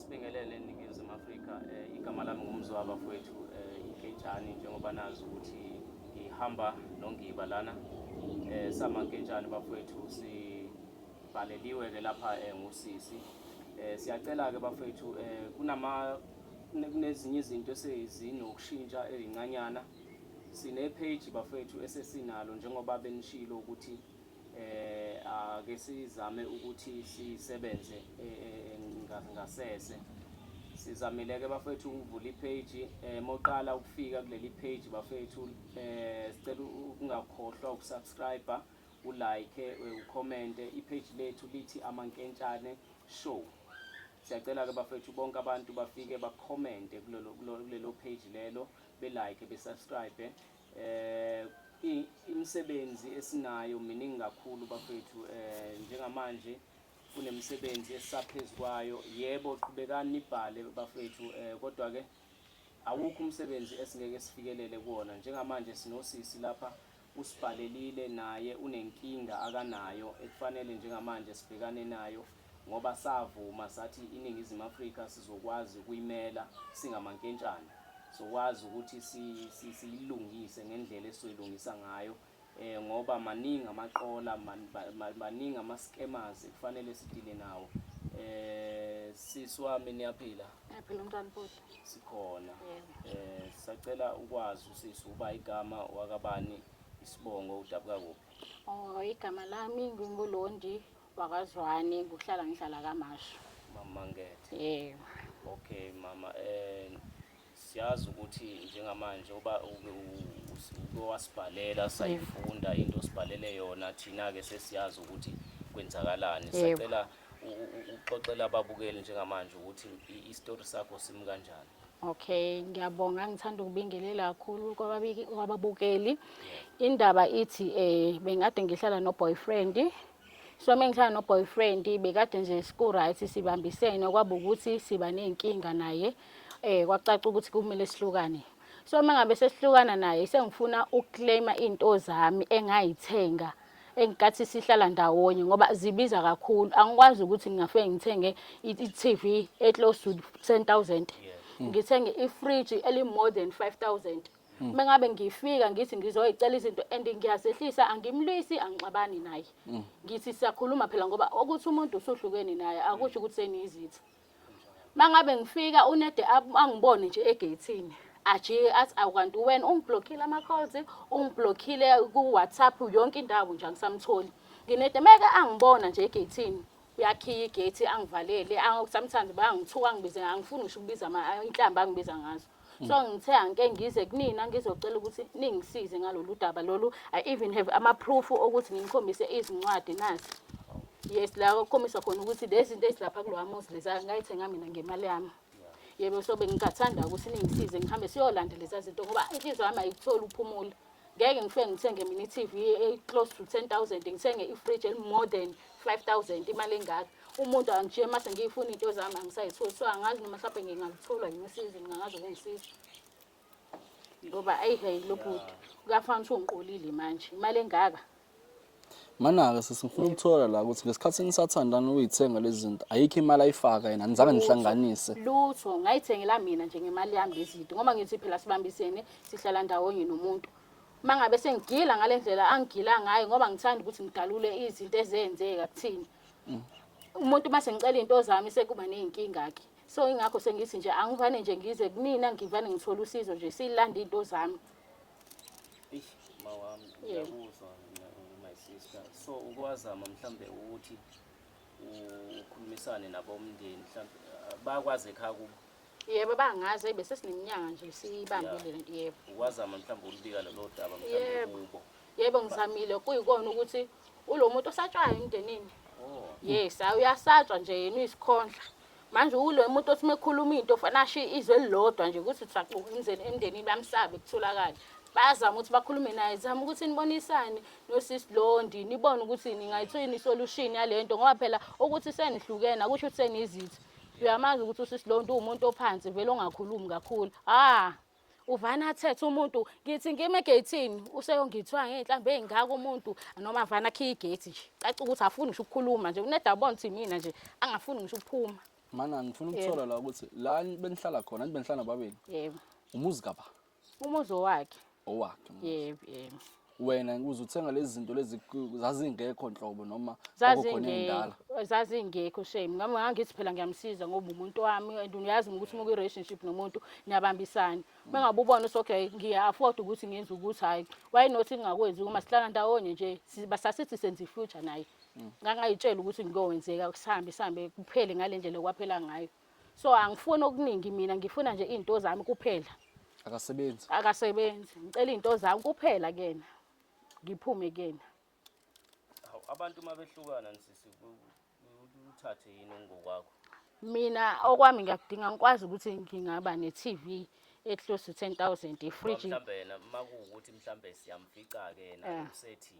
Sibingelele eNingizimu Afrika. Eh, igama lami ngumzwa bafowethu eh, inketshani njengoba nazi ukuthi ngihamba nongiba lana eh, sama nketshani bafowethu sibhaleliwe-ke lapha eh, ngusisi eh, siyacela-ke bafowethu eh, kunama kunezinye izinto esezinokushintsha ezincanyana sine-page bafowethu esesinalo njengoba benishilo ukuthi ake sizame ukuthi sisebenze ngasese sizamile-ke bafethu ukuvula ipage um moqala ukufika kuleli page bafethu um sicela ukungakhohlwa ukusubscribe ulike ukhomente ipage lethu lithi amankentshane show siyacela-ke bafethu bonke abantu bafike bakhomente kulelo page lelo belike besubscribe Eh imisebenzi esinayo miningi kakhulu bafethu eh njengamanje kunemisebenzi esisaphezulu kwayo yebo qhubekani nibhale bafethu eh kodwa ke awukho umsebenzi esingeke sifikelele kuwona njengamanje sinosisi lapha usibhalelile naye unenkinga akanayo ekufanele njengamanje sibhekane nayo ngoba savuma sathi iNingizimu Afrika sizokwazi ukuyimela singamankentshane, sokwazi ukuthi siyilungise ngendlela esizoyilungisa ngayo ngoba maningi amaqola, baningi ama-scammers ekufanele sidile nawo. Eh sisi wami niyaphila? Ngiyaphila umntwana futhi. Sikhona. Eh sacela ukwazi usisi uba igama wakabani isibongo udabuka kuphi? Oh igama lami nginguLondi wakazwani kuhlala ngihlala kamashu mama ngethe yebo okay mama eh siyazi ukuthi njengamanje uba uke wasibhalela sayifunda into osibhalele yona thina ke sesiyazi ukuthi kwenzakalani sacela uxoxela ababukeli njengamanje ukuthi i-story sakho simi kanjani Okay, ngiyabonga ngithanda ukubingelela kakhulu kwababiki kwababukeli. Indaba ithi eh bengade ngihlala no boyfriend. So mengihlala no boyfriend bekade nje siku right sibambisene kwaba ukuthi siba nezinkinga naye. Eh kwacaca ukuthi kumele sihlukane. So mangabe sesihlukana naye sengifuna ukuclaima into zami engayithenga enkathi sihlala ndawonye ngoba zibiza kakhulu angikwazi ukuthi ngingafike ngithenge i-TV eclose to 10000 ngithenge ifridge eli more than 5000 Mm. mengabe ngifika ngithi ngizoyicela izinto and ngiyazehlisa angimlwisi angixabani naye mm. ngithi siyakhuluma phela ngoba ukuthi umuntu usuhlukene naye akusho ukuthi seniyizitha mangabe ngifika unede angibone nje egeyithini ajike athi awukanti wena ungiblockile ama-calls ungiblockile ku-whatsapp yonke indawo nje angisamtholi nginede meke angibona nje egeyithini uyakhiya igate angivalele sometimes bayangithuka angibize angifuni ngisho ukubiza inhlamba angibiza ngazo Mm. so ngithe angike ngize kunina ngizocela ukuthi ningisize ngalolu daba lolu i even have ama-proof okuthi ngimkhombise izincwadi nazi yes la kukhombisa khona ukuthi lezi zinto ezilapha kulowa muzi leza ngayithenga mina ngemali yami yebo so bengingathanda ukuthi ningisize ngihambe siyolandela leza zinto ngoba inhliziyo yami ayikutholi uphumula ngeke ngifike ngithenge mini TV e close to 10000 ngithenge i fridge eli more than 5000 imali engaka umuntu angijike mase ngiyifuna into zami angisayitholi so angazi noma mhlawumbe ngingalithola yini usizo ngingazi ukungisiza ngoba ayi hey lobhuti kuyafana ukuthi ungiqolile manje imali engaka Mana-ke sisi ngifuna ukuthola la ukuthi ngesikhathi nisathandana uyithenga lezi zinto ayikho imali ayifaka yena anizange nihlanganise lutho ngayithengela mina nje ngemali yami lezi zinto ngoba ngithi phela sibambisene sihlala ndawonye nomuntu uma ngabe sengigila ngale ndlela angigila ngayo ngoba ngithanda ukuthi ngidalule izinto ezenzeka kuthina mm. umuntu uma sengicela iy'nto zami sekuba ney'nkinga-ke so ingakho sengithi nje angivane nje ngize kumina ngivane ngithole usizo nje siyilanda iy'nto zami so ukwazama mhlambe ukuthi ukhulumisane nabomndeni mhlambe bakwazi ekhaya kubo yebo bangazi eyi besesininyanga nje siyibambile le nto yebo ukwazama mhlawumbe ulibika lelo daba mhlawumbe kubo yebo ngizamile kuyikona ukuthi ulo muntu osatshwayo emndenini oh. yes awuyasatshwa nje yena uyisikhondla manje ulo umuntu othi mekhuluma into fanele ashiye izwe elilodwa nje ukuthi usaxuka umzeni emndenini bamsabe kutholakala bayazama ukuthi bakhulume naye zama ukuthi nibonisane nosis londi nibone ukuthi ningayithini isolution yale nto ngoba phela ukuthi senihlukene akusho ukuthi senizitha uyamazi ukuthi usis londi uwumuntu ophansi vele ongakhulumi kakhulu ah uvana athethe umuntu ngithi ngime egeyithini useyongithiwa ngey'nhlamba ey'ngaka umuntu noma vana akhiye igeythi nje caca ukuthi afuni ngisho ukukhuluma nje unedabona ukuthi mina nje angafuni ngisho ukuphuma mana ngifuna ukuthola la ukuthi la benihlala khona anti benihlala nababili yebo umuzi kaba umuzi owakhe owakhe yebo yebo wena ukuze uthenga lezi zinto lezi ku- zazingekho nhlobo noma kwakukhona ey'ndala zazingekho zazingekho shame ngami ngangithi phela ngiyamsiza ngoba umuntu wami and uyazi ukuthi uma kwi-relationship nomuntu niyabambisana uma ngabe ubona ukuthi okay ngiya-afford ukuthi ngenze ukuthi hhayi why not ngingakwenzi uma sihlala ndawonye nje si- basasithi senza i-future naye ngangayitshela ukuthi kuyokwenzeka sihambe sihambe kuphele ngale ndlela okwaphela ngayo so angifuni okuningi mina ngifuna nje izinto zami kuphela akasebenzi akasebenzi ngicela izinto zami kuphela kena ngiphume kena Hawu, abantu uma behlukana nisisi ku- ku- uthathe yini ngokwakho mina okwami ngiyakudinga ngikwazi ukuthi ngingaba ne-tv e-close to 10000 ifridge mhlawumbe yena uma kuwukuthi mhlawumbe siyamfica-ke yena Eh. usethi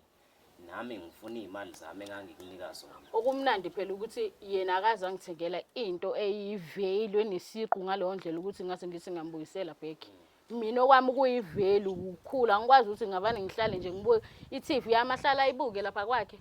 nami ngifuna iy'mali zami engangikunika zona okumnandi phela ukuthi yena akaze angithengela into eyivelu enesiqu ngaleyo ndlela ukuthi ngase ngithi ngambuyisela back mina okwami kuyivelu ukukhula angikwazi ukuthi ngabane ngihlale nje ngibuke i-tv yami ahlala ayibuke lapha kwakhe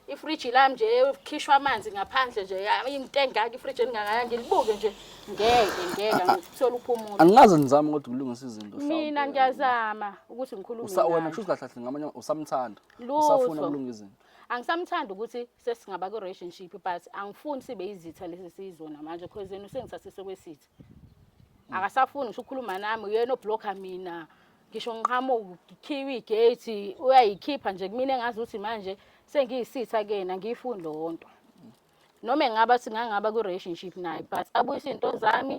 ifriji lami nje khishwa amanzi ngaphandle nje into engaka ifriji elingakaya ngilibuke nje ngeke ngeke ngikuthola uphumula angikaze ngizame kodwa ukulungisa izinto mina ngiyazama ukuthi ngikhulume usawona kusho kahle kahle ngamanye usamthanda usafuna ukulungisa izinto angisamthanda ukuthi sesingaba ku relationship but angifuni sibe izitha lesi sizona manje because yena usengithathise kwesithi mm. akasafuni ngisho ukukhuluma nami uyena oblocker mina ngisho ngiqhamu ngikhiwe igate uyayikhipha nje kumina engazi ukuthi manje sengiyisitha kena ngiyifuni lonto noma engaba singangaba ku-relationship naye but abuyise iy'nto zami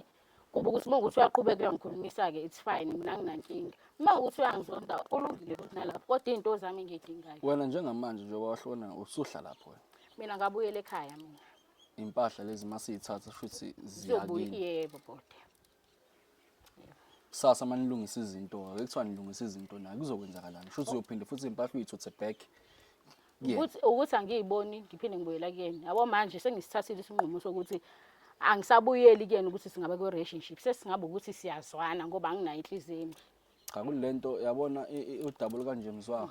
kuba ukuthi uma ukuthi uyaqhubeka uyangikhulumisa-ke it's fine mina nginankinga uma ukuthi uyangizonda kulungile ukuthi nalapho kodwa iy'nto zami engiyidingayo wena njengamanje njengoba wahlona usuhla lapho wena mina ngabuyela ekhaya mina impahla lezi masiyithatha futhi ziyakini yebo bode kusasa uma nilungisa izinto ake kuthiwa nilungisa izinto nayo kuzokwenzakalani shuthi uyophinde futhi impahla uyithuthe back Yeah. ukuthi ukuthi angiyiboni ngiphinde ngibuyela kuyena yabo manje sengisithathile isinqumo sokuthi angisabuyeli kuyena ukuthi singabe kwi-relationship sesingabe ukuthi siyazwana ngoba anginayo inhliziyo embi Cha kulento yabona udaba olukanje mzwa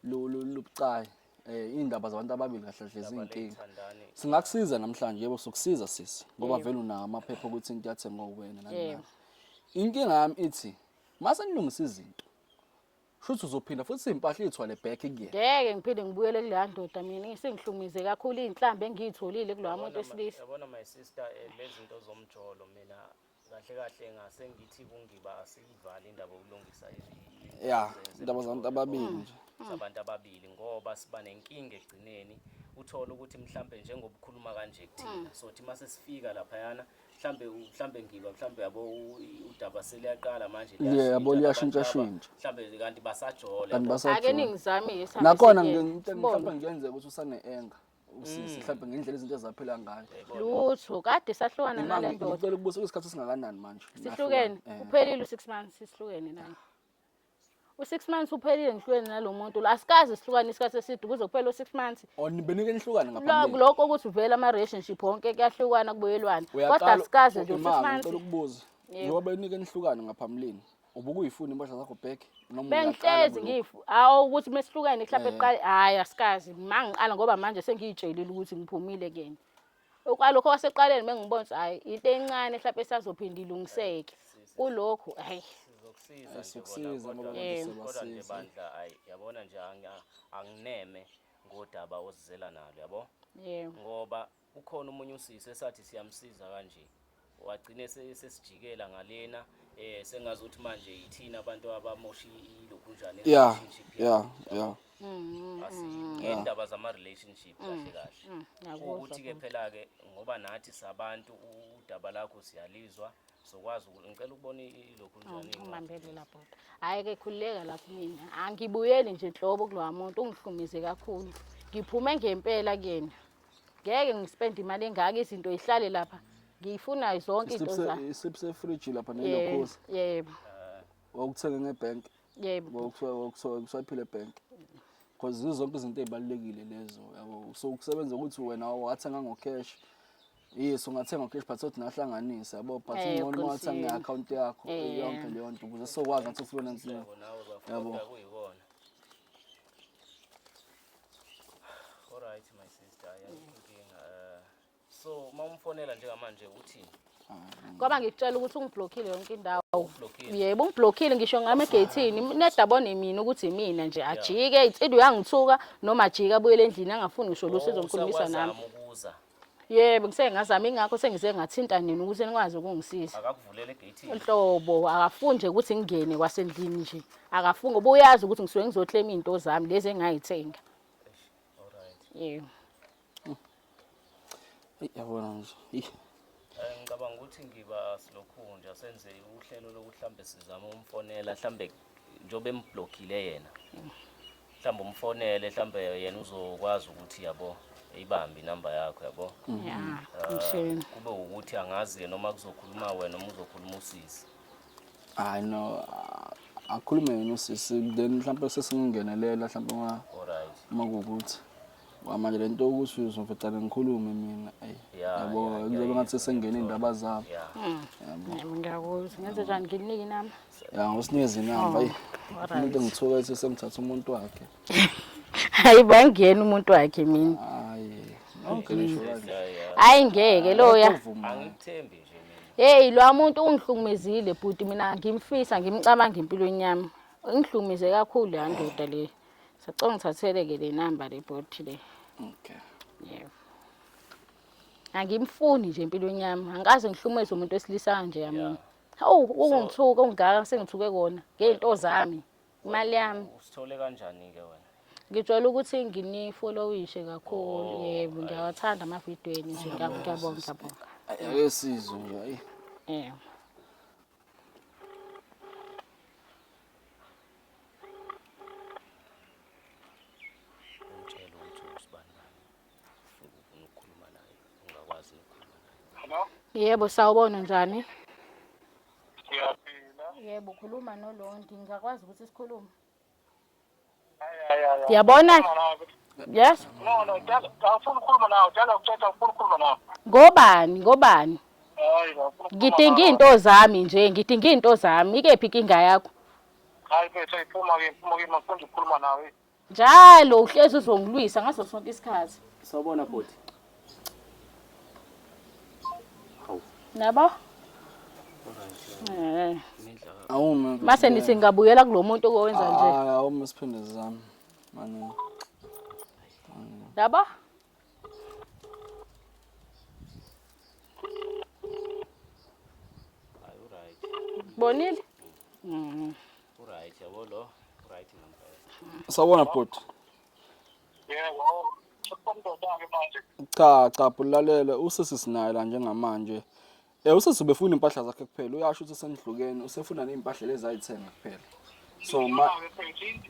lubucayi eh indaba zabantu ababili kahle hle izinkinga singakusiza namhlanje yebo sokusiza sisi ngoba vele unawo amaphepha ukuthi into yathengwa uwena nani inkinga yami ithi mase nilungisa izinto shuthi uzophinda futhi impahla ithwale back kuyena ngeke ngiphinde ngibuyele kuleya ndoda mina isengihlumize kakhulu izinhlambe engiyitholile kulowa muntu esilisa yabona my sister eh, lezinto zomjolo mina kahle kahle ngase ngithi kungiba asiyivale indaba yokulungisa ya indaba zabantu ababili nje mm. zabantu ababili ngoba siba nenkinga egcineni uthole ukuthi mhlambe njengobukhuluma kanje kuthina mm. so thi mase sifika lapha yana mhlambe mhlambe ngiba mhlambe yabo udaba seliyaqala manje yeah yabo liyashintsha shintsha mhlambe kanti basajole kanti basajole ake ningizame yesa nakhona ngicela mhlambe ngiyenzeka ukuthi usane enga usisi mhlawumbe ngendlela izinto ezaphela ngayo lutho kade sahlukana nale Imali, ndoda ngicela ukubuza kunesikhathi esingakanani manje sihlukene Nahlukana. Eh. uphelile u-six months sihlukene naye u-six months uphelile ngihlukene nalo muntu lo asikaze sihlukane isikhathi eside kuze kuphele u-six months Oh, nibenike nihlukane Lo- ngaphambili lokho ukuthi uvele ama-relationship wonke kuyahlukana kubuyelwana kodwa Uyaqala asikaze nje u-six imali, months ngicela ukubuza Yebo. njengoba benike nihlukane ngaphambilini ubukuyifuna impahla zakho back noma bengihlezi ngifu hawu ukuthi mesihlukene mhlawumbe eqale hayi asikazi mangiqala ngoba manje sengiyitshelile ukuthi ngiphumile kuyena okwalokho kwaseqaleni mengibona ukuthi hayi into encane mhlawumbe esazophinda ilungiseke kulokhu hayi sizokusiza sizokusiza ngoba kodwa nje bandla hayi yabona nje angineme ngodaba ozizela nalo yabo ngoba Ukhona omunye usisi esathi siyamsiza kanje wagcine sesijikela ngalena eh sengazi ukuthi manje yithina abantu abamosha ilokhu njani yeah yeah yeah ngendaba mm-hmm. zama-relationship mm. kahle kahle mm. ukuthi-ke phela-ke ngoba nathi sabantu udaba lakho siyalizwa sokwazi ukuthi ngicela ukubona ilokhu oh, njanimbambele lapho hhayi-ke khululeka lapho mina angibuyeli nje nhlobo kulowa muntu ungihlumize kakhulu ngiphume ngempela kuyena ngeke ngispende imali engaka izinto ihlale lapha ngiyifunayo zonke into za isiphi sefridge lapha nelokhosi yebo wawuthenge ngebank yebo wawuthiwa wawuthiwa usaphile ebank because zizo zonke izinto ezibalekile lezo yabo so ukusebenza ukuthi wena wathenga ngo cash yes ungathenga ngo cash but sothi nahlanganise yabo but eh, ngcono uma wathenga nge account yakho eh. yonke leyo nto ukuze sokwazi ngathi ufuna nzima yabo Alright my sister, ayayinkinga. Uh, so uma umfonela njengamanje uthini? Ngoba ngikutshela ukuthi ungiblockile yonke indawo. Ublockile. Yebo ungiblockile ngisho ngame gethini nedabone mina ukuthi imina nje ajike insidu yangithuka noma ajike abuyele endlini angafuni ngisho lusizo ngikhulumisa nami. Usazama ukuza. yebo ngiseke ngazama ingakho sengize ngathinta nina ukuthi nikwazi ukungisiza akakuvulele gate nhlobo akafuni nje ukuthi ngingene kwasendlini nje akafuni ngoba uyazi ukuthi ngisuke ngizoclaim into zami lezi engayithenga yebo yabona nje Eh, ngicabanga ukuthi ngiba silokhunja senze uhlelo lokuthi mhlawumbe sizame umfonela mhlawumbe njengoba emblockile yena mhlawumbe umfonele mhlawumbe yena uzokwazi ukuthi yabo eyibambe inamba yakho yabo eh, kube ukuthi angazi ke noma kuzokhuluma wena noma uzokhuluma usisi hayi no akhulume yena usisi then mhlawumbe sesingengenelela mhlawumbe uma kuwukuthi Wa, manje le nto ukuthi uzovecane ngikhulume mina ayi Yeah, yabo yeah, yeah, kuzobe yeah, ngathi sesengena iy'ndaba zabo Yeah. yabo Yebo, ngiyakuzwa ngenze njani nginike inama ya ngosinikeza inamba ayi alright. umuntu engithuka ethi sengithatha umuntu wakhe hayi bo angiyena umuntu wakhe mina hayi nonke nisho kanje Yeah, yeah. hayi ngeke loya Akuvumi. Angikuthembi nje mina. heyi loya muntu ungihlukumezile bhuti mina ngimfisa ngimcabanga empilweni yami ingihlukumeze kakhulu leya ndoda le Sacela ngithatheleke le number le bhoti le. Okay. Yebo. Angimfuni nje empilweni yami. Angikaze ngihlumeze umuntu wesilisa kanje yami. Yeah. Hawu, ukungithuka ungaka sengithuke kona ngezinto zami. Imali yami. Usithole kanjani ke wena? Ngijwayele ukuthi nginifollowishe kakhulu. Oh, Yebo, ngiyawathanda ama-video enu nje. Ngiyabonga, ngiyabonga. Ayesizwe nje. Yebo. Yebo, sawubona njani? Siyaphila. Yebo, khuluma noLondi. Ngingakwazi ukuthi sikhulume? yabona yes ngobani ngobani ngidinga iy'nto zami nje ngidinga iy'nto zami ikephi inkinga yakho njalo uhlezi uzongilwisa ngaso sonke isikhathi sawubona bhuti Nabo? Eh. Awume. Mase nithi ngabuyela kulomuntu owenza nje. Hayi awume siphinde sizame. Mani. Nabo? Bonile? Mhm. Right, yabo lo. Right ngempela. Sawona bhuti. cha cha bulalele usisi sinaye la njengamanje eh usisi ubefuna impahla zakhe kuphela uyasho ukuthi senidlukeni usefuna nezimpahla lezi ayithenga kuphela so ma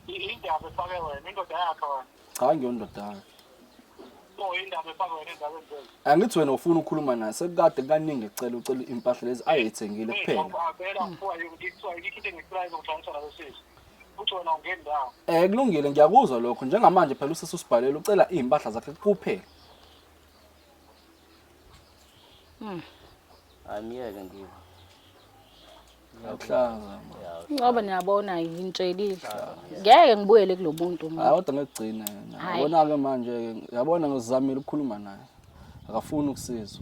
indaba efake wena indoda yakhe wena cha ngiyondoda yakhe angithi wena ufuna ukukhuluma naye sekukade kaningi ecela ucela impahla lezi ayithengile kuphela uthi wena ungeni ndawo Eh kulungile ngiyakuzwa lokho njengamanje phela usisi usibhalele ucela izimpahla zakhe kuphela. Angiyeke ngiba. Ngiyakuhlaza. Ngoba niyabona ngitshelile. Ngeke ngibuyele kulo muntu mina. Hayi kodwa ngekugcina yena. Hhayi. Yabona ke manje ke yabona ngizamile ukukhuluma naye. Akafuni ukusizwa.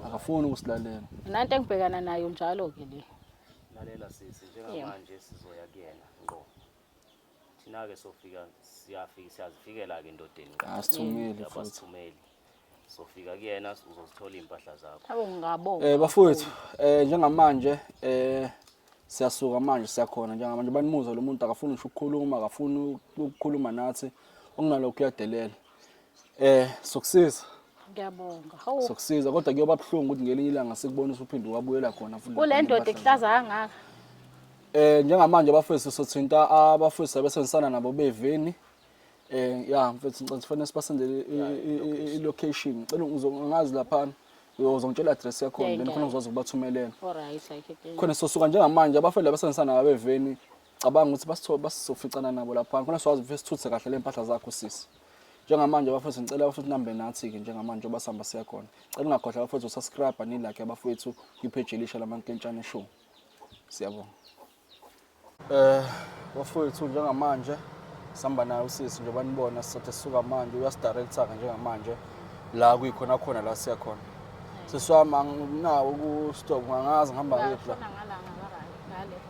Akafuni ukusilalela. Nanto engibhekana nayo njalo ke le. lalela sisi njengamanje sizoya kuyena ngqo thina-ke sofika siyafika siyazifikela-ke endodeni asithumeli abasithumeli sofika kuyena uzozithola iy'mpahla zakho abo ngingabonga um bafowethu um njengamanje um siyasuka manje siyakhona njengamanje banimuzwa lo muntu akafuni ngisho ukukhuluma akafuni ukukhuluma nathi okunalokho uyadelela Eh, sokusiza. Ngiyabonga. Hawu. Sokusiza kodwa kuyoba buhlungu ukuthi ngelinye ilanga sikubona usuphinde wabuyela khona futhi. Kule ndoda ekuhlaza kangaka. Eh, njengamanje abafethu sothinta abafethu abesenzisana nabo beveni. Eh, ya mfethu ngicela sifanele sibasendele i-location. Cela ngizongazi lapha. uzongitshela address yakhona then khona ngizokwazi ukubathumelela khona sosuka njengamanje abafela basenzisana ngabeveni cabanga ukuthi basizoficana nabo lapha khona siwazi ukuthi sithuthe kahle le mpahla zakho sisi njengamanje bafowethu ngicela bafowethu nihambe nathi-ke njengamanje oba sihamba siya khona cela ungakhohlwa bafowethu usubscribe nilakhe abafowethu kwipheji elisha lamankentshane show siyabonga um bafowethu njengamanje sihamba naye usisi njengoba nibona sisathe sisuka manje uyasidirector-ke njengamanje la kuyikhona khona la siya khona siswami anginawo kustop ngangazi ngihamba ngiphi la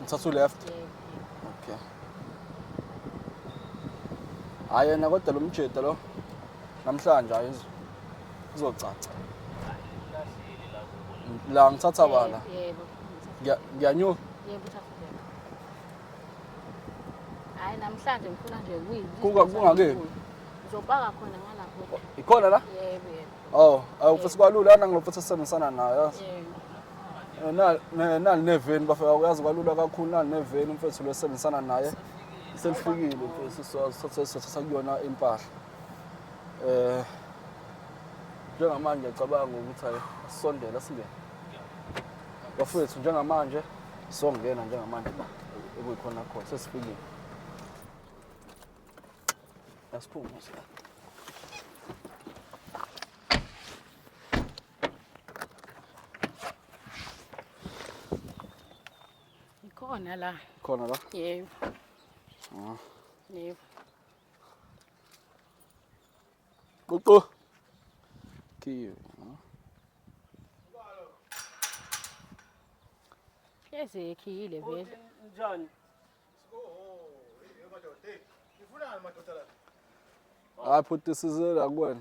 ngithatha u-left okay hayi yena kodwa lo mjede lo namhlanje hayi izo- izocaca la ngithatha bala Yebo. Ngiya- ngiyanyuka Yebo uthafuleka. Hayi namhlanje ngifuna nje kuyi. Kuka- kungakephi? Uzopaka khona ngalapho. ikhona la Yebo yebo. oh awufisa kwalula nangilofuthi sisebenzisana nayo yazi Yebo. nali neveni bafika uyazi kwalula kakhulu nali neveni umfethu lo esebenzisana naye selifikile sakuyona impahla um njengamanje ngiyacabanga ukuthi ayi asisondele asingene bafowethu njengamanje songena njengamanje la ekuyikhona khona sesifikile asiphumuse Ikhona la. Khona la? Yebo. Ah. Yebo. Ququ. Kiyo. Yes, ekhiyile vele. Njani? Hayi bhuti sizela kuwena.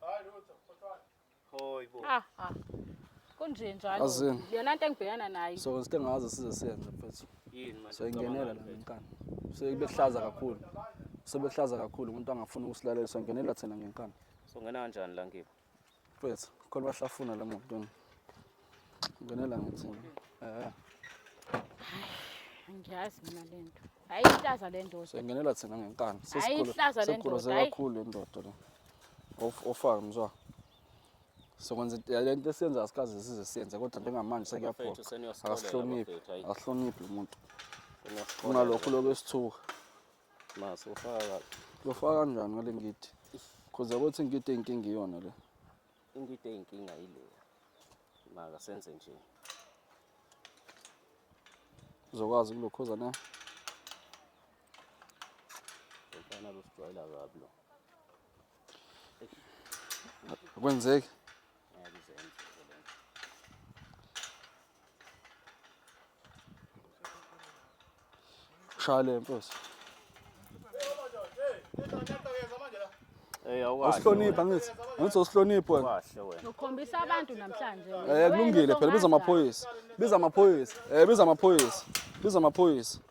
Hayi lutho, khothwana. Hoy bo. Ah ah. Kunje njalo. Azini. Yona into engibhekana nayo. So ngisike ngazi size siyenze mfethu. Yini manje? So ingenela la ngenkani. So ibekuhlaza kakhulu. Sebekuhlaza kakhulu umuntu angafuni ukusilalela so ingenela thina ngenkani. So ngena kanjani la ngibo? Mfethu, khona bahlafuna la muntu. Ngenela ngithini? Eh. Ngiyazi mina le nto. Hayi ihlaza le ndoda. Sengenela thina ngenkani. Hayi ihlaza le ndoda. Sesikhuluze kakhulu le ndoda le. Of ofaka mzwa. Sokwenza le nto esiyenza asikaze size siyenze kodwa njengamanje sekuyaphoqa. Asihloniphi. Asihloniphi umuntu. Kunalokho lokho esithuka. Mase ufaka. Ufaka kanjani ngale ngidi? Khoza ukuthi ngidi inkinga iyona le. Into into eyinkinga yileya. Maka senze nje. Uzokwazi ukulokhoza na? Ngifana lusijwayela kabi lo. Akwenzeki. Shale mfos. Hey awukwazi. Usihlonipha ngithi. Ngithi usihlonipha wena. Kahle wena. Ukhombisa abantu namhlanje. Eh kulungile phela biza amaphoyisa. Biza amaphoyisa. Eh biza amaphoyisa. Biza amaphoyisa.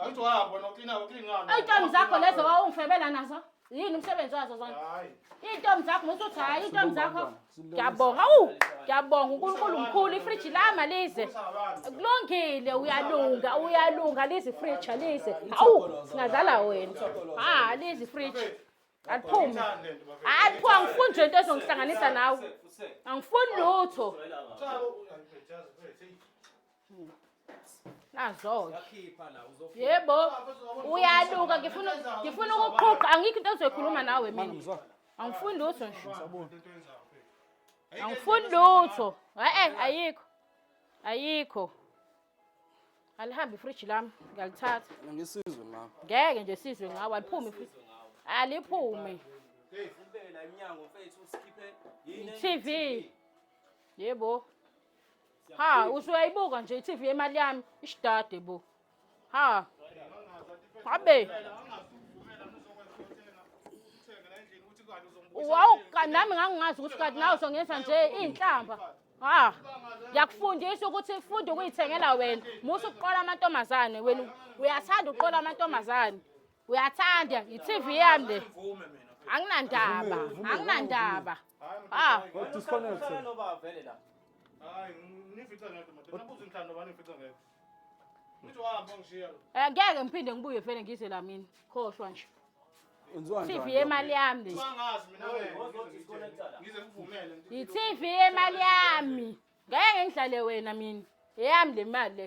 Ngathi uhamba wena uklina uklinani. Ayitomi zakho lezo wawungifebela nazo. Yini umsebenzi wazo zona? Hayi. Iy'ntombi zakho musuthi hhayi iy'ntombi zakho ngiyabonga awu ngiyabonga unkulunkulu mkhulu ifriji lama lize kulungile uyalunga uyalunga lize ifriji alize awu singadlala wena ha lize ifriji aliphume hhayi aliphume angifuni nje into ezongihlanganisa nawe angifuni lutho nazo-ke Yakhipha la uzofika. yebo uyaluka ngifuna ngifuna ukuqhuqa angikho into ezoyikhuluma nawe Mama mina ngizwa. angifuni lutho nje angifuni lutho e-e ayikho ayikho alihambe ifriji lami ngiyalithatha Mina ngisizwe mama. ngeke nje sizwe ngawo aliphume ifriji aliphume Ubeke la emnyango mfethu usikhiphe yini? TV. yebo ha usuyayibuka nje i-tv yemali yami ishidade bo ha abe wawu kanti nami ngangingazi ukuthi kanti nawe uzongenza nje iy'nhlamba ha ngiyakufundisa ukuthi funda ukuyithengela wena musa ukuqola amantombazane wena uyathanda ukuqola amantombazane uyathanda yi-tv yami le anginandaba anginandaba ah eh, ngeke ngiphinde ngibuye vele ngize la mina khohlwa nje TV yemali yami yi-TV yemali yami ngeke ngidlale wena mina eyami le mali le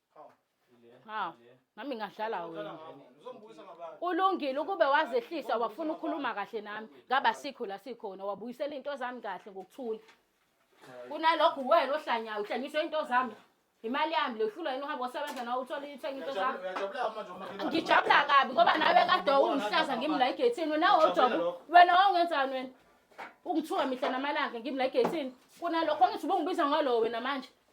hawu nami ngadlala wena ulungile ukube wazehlisa wafuna ukukhuluma kahle nami ngaba sikho la sikhona wabuyisela into zami kahle ngokuthula kunalokho uwena ohlanyayo uhlanyiswe into zami imali yami lehlulwa yini uhambe osebenza nawe uthole ithenga into zami ngijabula kabi ngoba nawe kade ungihlaza ngimi la egethini wena wojobo wena wawungenzani wena ungithuka mihla namalanga ngimi la egethini kunalokho ngithi ubungibiza ngalowo wena manje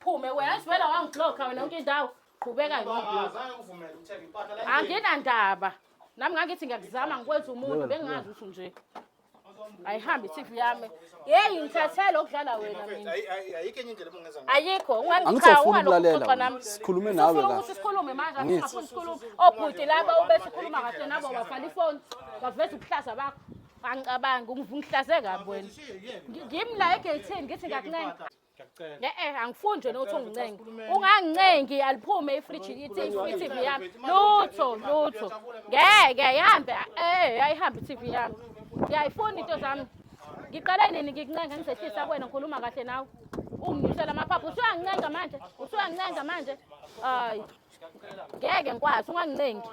Phume wena ngivela wangibloka wena yonke indawo. Qhubeka ngiyobloka. Anginandaba. Nami ngangithi ngiyakuzama ngikwenza umuntu bengingazi ukuthi nje. Ayihambi i-TV yami. Yeyi ngithathele okudlala wena mina. Ayikho enye indlela obungenza ngayo. Ayikho Angisafuni ungangixoxa ukulalela nami. wena. Sikhulume nawe Ufuna la. ukuthi sikhulume manje Angithi. angifuni sikhulume. Obhuti laba ubethi ukhuluma kahle nabo wafala ifoni. Waveza ubuhlaza bakho. Angicabangi ungihlaze kabi wena. Ngi- Ngimi la egeyithini ngithi ngiyakuncenga. Ngiyakucela. Ne eh angifuni nje nokuthi ungincenge. Ungangincengi aliphume ifridge ithi iFTV yami. Lutho lutho. Ngeke ihambe eh ayihambe iTV yami. Ngiyayifuna into zami. Ngiqale nini ngikuncenga ngizehlisa kuwena ngikhuluma kahle nawe. Unginyusela amaphaphu usuyangincenga manje. Usuyangincenga manje. Hayi. Ngeke ngikwazi ungangincengi.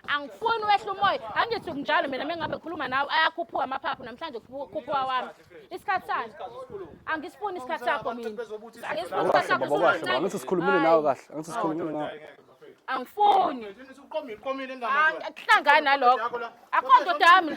angifuni wehle umoya angithi kunjalo mina mengabe ngikhuluma nawe ayakhuphuka amaphaphu namhlanje khuphuka wami isikhathi sani angisifuni isikhathi sakho mina angisifuni isikhathi sakho baba kahle baba angithi sikhulumile nawe kahle angithi sikhulumile nawe angifuni uqomile uqomile ingane akuhlangani nalokho akho ndoda yami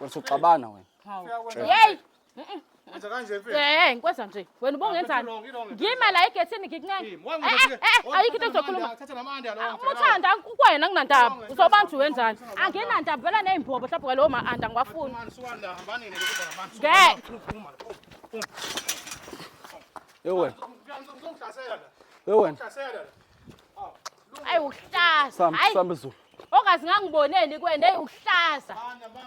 Usuxabana wena. Yey. Wenza kanje mfethu. Eh, ngikwenza nje. Wena ubongenzani? Ngima la egethini ngikuncenge. Eh, eh, eh, ayikho into engizokhuluma. Thatha namanda lo. Umuthanda kukwena nginandaba. Uzoba nje wenzani? Anginandaba vela nezimbobo mhlawumbe kwalowo ma anda ngiwafuni. Ngeke. Ewe. Ngizongihlasela la. Ewe. Ngihlasela la. Ayi uhlaza. Sambe Hayi. sambe Zulu. Ongazi ngangiboneni kwena eyi uhlaza.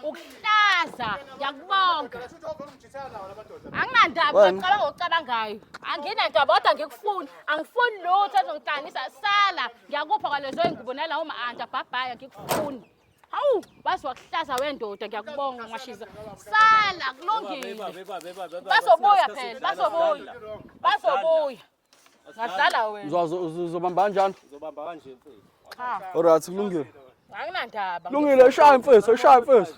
Uhlaza. Ngiyakubonga. Anginandaba Wena. ngicabanga ngokucabangayo. Anginandaba kodwa ngikufuni. Angifuni lutho ezongihlanganisa sala. Ngiyakupha kwalezo ingubo nalawo ma-anti abhabhayo ngikufuni. Hawu, waze wakuhlaza wendoda ngiyakubonga ngashiza. Sala kulungile. Bazobuya phela, bazobuya. Bazobuya. Ngadlala wena. Uzwa- uzo- uzo- Uzobamba kanjani? Uzobamba kanje mfethu. Cha. Alright, kulungile. Anginandaba. Kulungile, ishaya mfethu, ishaya mfethu.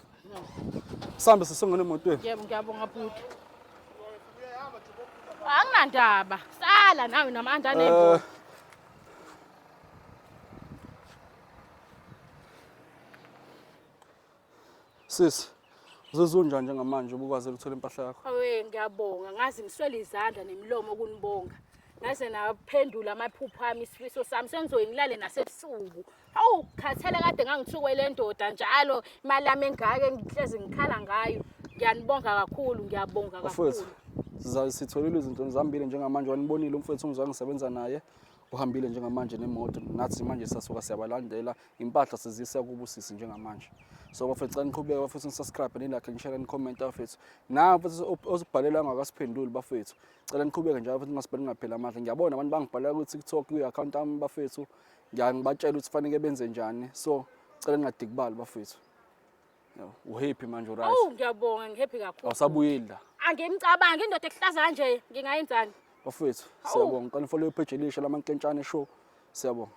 Sambe sesongena emotweni. Yebo ngiyabonga bhuti. Anginandaba. Sala nawe namandla Eh, anembo. Sisi, uzozunjwa njengamanje ubukwazi ukuthola impahla yakho. Awe ngiyabonga ngazi ngiswele izandla nemilomo kunibonga. Ngaze naphendula amaphupho ami isifiso sami sengizoyi ngilale nasebusuku. Awu khathele kade ngangithukwe le ndoda njalo imali yami engaka engihlezi ngikhala ngayo. Ngiyanibonga kakhulu ngiyabonga Mfowethu, kakhulu. siza- sitholile izinto zihambile njengamanje wanibonile umfowethu ongizwa ngisebenza naye uhambile njengamanje nemoto nathi manje sasuka siyabalandela impahla sizisa kubo sisi njengamanje so bafethu xa niqhubeka bafethu nisubscribe nilakhe nishare nicommente bafethu nawe bafethu osibhalela angakasiphenduli bafethu cela niqhubeke njalo bafethu ningasibhali ngaphela amandla ngiyabona abantu bangibhalela kwi-tiktok kwi-akhawunti yami bafethu ngiyangibatshela ukuthi faneke benze njani so cela ningadikibali bafethu uhappy manje uright awu ngiyabonga ngihappy kakhulu awusabuyeli la angimcabangi indoda ekuhlaza kanje ngingayenzani bafethu siyabonga qala nifollow ipage elisha lamankentshane show siyabonga